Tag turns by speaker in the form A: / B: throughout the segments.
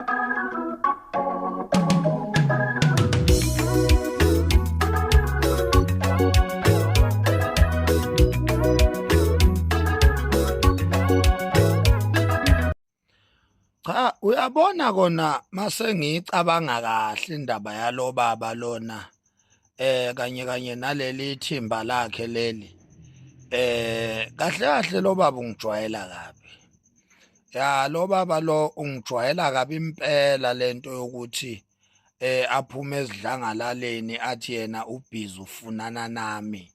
A: Cha uyabona kona mase ngicabanga kahle indaba yalo baba lona eh kanye kanye naleli thimba lakhe leli eh kahle kahle lo baba ungijwayela kabi ya lo baba lo ungijwayela kabi impela lento yokuthi eh aphume ezidlangalaleni athi yena ubhizi ufunana nami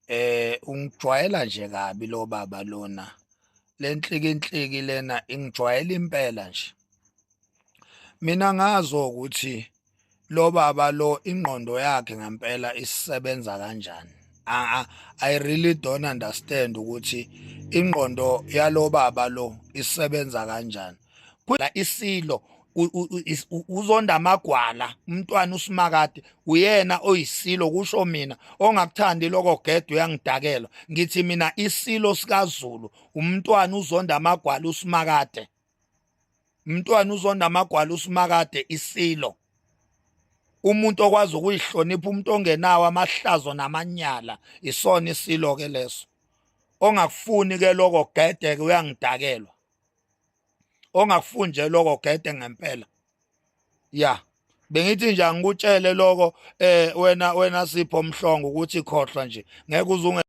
A: eh ungijwayela nje kabi lo baba lona lenhlikinhliki lena ingijwayela impela nje mina ngazo ukuthi lo baba lo ingqondo yakhe ngempela isebenza kanjani I, I really don't understand ukuthi ingqondo yalo baba lo isebenza kanjani kula isilo uzonda amagwala umntwana usimakade uyena oyisilo kusho mina ongakuthandi lokho gedwa uyangidakelwa ngithi mina isilo sikaZulu umntwana uzonda amagwala usimakade mntwana uzonda amagwala usimakade isilo umuntu okwazi ukuyihlonipha umuntu ongenawo amahlazo namanyala isona isilo ke leso ongakufuni ke lokho gede ke uyangidakelwa ongakufuni nje lokho gede ngempela ya bengithi nje angikutshele lokho eh wena wena sipho mhlongo ukuthi khohlwa nje ngeke uze